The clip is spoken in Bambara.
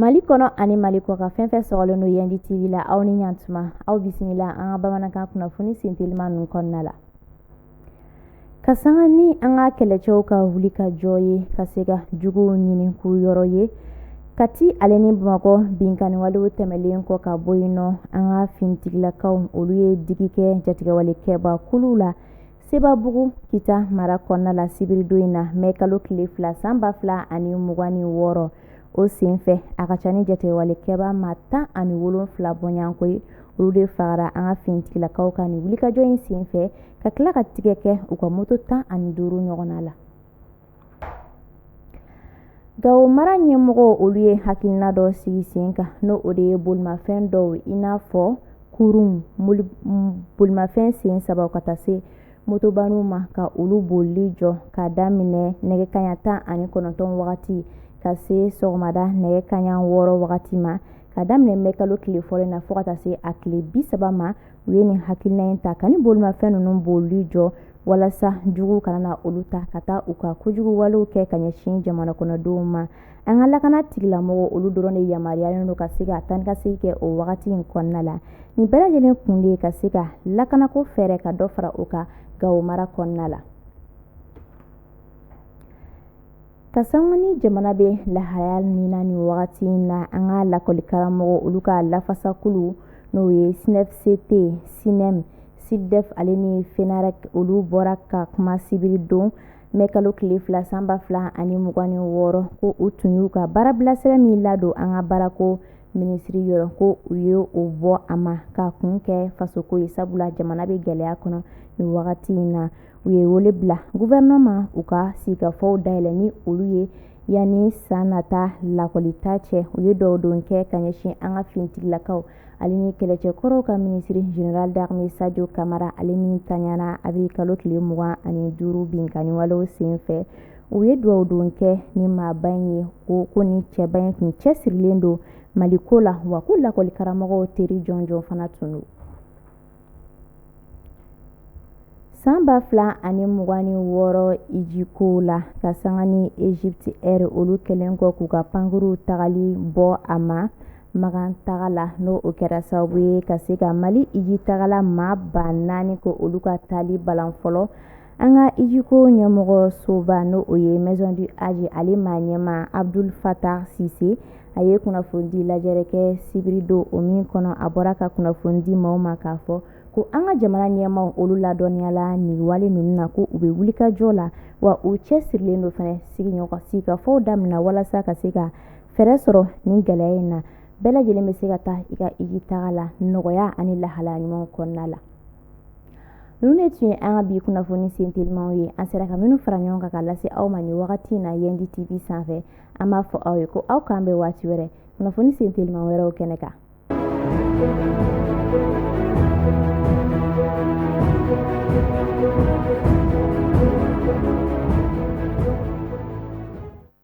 Mali kɔnɔ ani mali kɔkan fɛn fɛn sɔgɔlen don Yendi TV la aw ni ɲan tuma aw bisimila an ka bamanankan kunnafoni senteliman ninnu kɔnɔna la ka sanga ni an ka kɛlɛcɛw ka wuli ka jɔ ye ka se ka juguw ɲini k'u yɔrɔ ye kati ale ni bamakɔ binkanniwalew tɛmɛlen kɔ ka bɔ yen nɔ an ka finitigilakaw olu ye digi kɛ jatigɛwale kɛbakuluw la sebabugu kita mara kɔnɔna la sibiridon in na mɛ kalo tile fila san ba fila ani mugan ni wɔɔrɔ o senfɛ a ka ca ni jatigɛwale kɛba ma tan ani wolonfila bɔɲɔgɔnko ye olu de fagara an ka finitigilakaw ka nin wulikajɔ in senfɛ ka tila ka tigɛ kɛ u ka moto tan ani duuru ɲɔgɔnna la gawo mara ɲɛmɔgɔw olu ye hakilina dɔ sigi sen kan n'o o de ye bolimafɛn dɔw i n'a fɔ kurun bolimafɛn sen saba ka taa se motoba ninnu ma ka olu bolili jɔ k'a daminɛ nɛgɛ kaɲa tan ani kɔnɔntɔn wagati ka se sɔgɔmada nɛgɛ kaɲa wɔɔrɔ wagati ma ka daminɛ mɛ kalo tile fɔlɔ in na fo ka taa se a tile bi saba ma u ye nin hakilina in ta ka nin bolimafɛn ninnu bolili jɔ walasa juguw kana na olu ta ka taa u ka kojugu walew kɛ ka ɲɛsin jamana kɔnɔdenw ma an ka lakana tigilamɔgɔ olu dɔrɔn de yamaruyalen don ka se ka taa ni ka segin kɛ o wagati in kɔnɔna la nin bɛɛ lajɛlen kun de ye ka se ka lakanako fɛɛrɛ ka dɔ fara o kan gawo mara kɔnɔna la Ka sanga ni jamana bɛ lahaya min na nin wagati in na an ka lakɔlikaramɔgɔ olu ka lafasakulu n'o ye SYNEFCT SYNEM SYLDEF ale ni FENAREC olu bɔra ka kuma sibiridon mɛ kalo tile fila san ba fila ani mugan ni wɔɔrɔ ko u tun y'u ka baarabilasira min ladon an ka baarako minisiri yɔrɔ ko u ye o bɔ a ma ka kun kɛ fasoko ye sabula jamana bɛ gɛlɛya kɔnɔ nin wagati in na u ye wele bila gɔfɛrɛnaman ma u ka sigikafɔw dayɛlɛn ni olu ye yanni san nata lakɔlita cɛ u ye dugawudon kɛ ka ɲɛsin an ka finitigilakaw ale ni kɛlɛcɛkɔrɔw ka minisiri général d'armée sajo kamara ale min tanyana awirili kalo tile mugan ani duuru binkanniwalew sen fɛ u ye dugawudon kɛ nin maaba in ye ko ko nin cɛba in tun cɛsirilen don mali ko la wa ko lakɔli karamɔgɔw teri jɔnjɔn fana tun don San ba fila ani mugan ni wɔɔrɔ iji ko la ka sanga ni Egypt Air olu kɛlen kɔ k'u ka pankurunw tagali bɔ a ma makan taga la n'o o kɛra sababu ye ka se ka mali iji tagala maa ba naani ka olu ka taali balan fɔlɔ An ka ijiko ɲɛmɔgɔ soba n' o ye Maison du Hadj ale maa ɲɛmaa Abdul Fatah Sise a ye kunnafonidi lajɛrɛ kɛ sibiri don o min kɔnɔ a bɔra ka kunnafoni di maaw ma k'a fɔ ko an ka jamana ɲɛmaaw olu ladɔnniyala nin wale ninnu na ko u bɛ wulikajɔ la wa u cɛsirilen don fana sigiɲɔgɔn sigikafɔw daminɛ walasa ka se ka fɛɛrɛ sɔrɔ nin gɛlɛya in na bɛɛ lajɛlen bɛ se ka taa i ka iji taga la nɔgɔya ani lahala ɲuman kɔnɔna la ninnu de tun ye an ka bi kunnafoni sentelimaw ye an sera ka minnu fara ɲɔgɔn kan ka lase aw ma nin wagati in na yendi tv sanfɛ an b'a fɔ aw ye ko aw k'an bɛn waati wɛrɛ kunnafoni sentelima wɛrɛw kɛnɛ kan